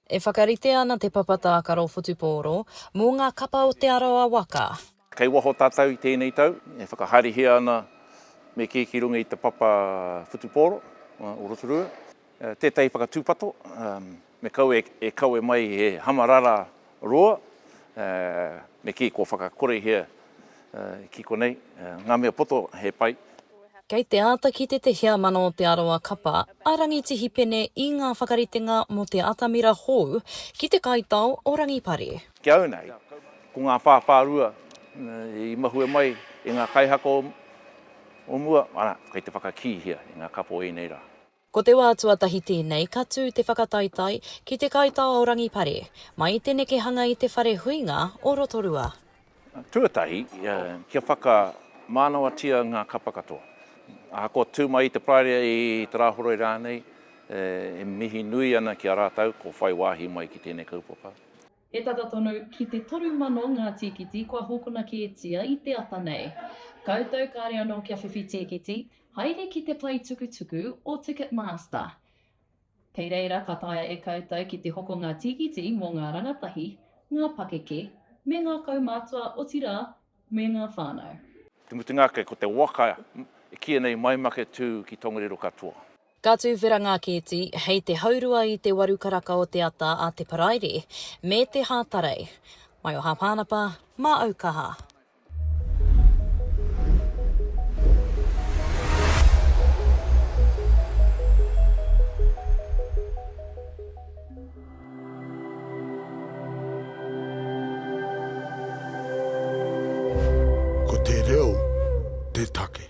E whakaritea ana te papa tākaro whutupōro mō ngā kapa o Te Arawa waka. Kei waho tātou i tēnei tau, e whakahaerehia ana me kī ki runga i te papa whutupōro o Rotorua, tētahi whakatūpato me kaua e kawe mai he hamarara Roa, ā, me kī kua whakakorehia ki konei ngā mea poto he pai. Kei te āta kite te heamana o Te Arawa Kapa a Rangitihi Pene i ngā whakaritenga mō te atamira hou ki te kaitao o Rangipare. Ki au nei, ko ngā whāwhārua i mahue mai e ngā kaihaka o mua, ana, kei te whakakīhia e ngā kapa o ēnei rā. Ko te wā tuatahi tēnei ka tū te whakataetae ki te kaitao o Rangipare, mai i te nekehanga i te whare huinga o Rotorua. Tuatahi, kia whakamānawatia ngā kapa katoa. Ahakoa tū mai i te Praeria, i Te Rāhoroi rānei, e mihi nui ana ki a rātou kua whai wāhi mai ki tēnei kaupapa. He tata tonu ki te toru mano ngā tīkiti kua hokona kētia i te ata nei. Koutou kāre anō kia whiwhi tīkiti, haere ki te pae tukutuku o Ticketmaster. Kei reira ka taea e koutou ki te hoko ngā tīkiti mō ngā rangatahi, ngā pakeke, me ngā kaumātua otirā me ngā whānau. Te mutunga ake, ko te waka i kīia nei Mai Make Tū ki Tongariro katoa. Ka tuwhera ngā kēti hei te haurua i te waru karaka o te ata a te Paraire me te Hātarei. Mai o Hāpānapa, mā Aukaha. Ko te reo te take.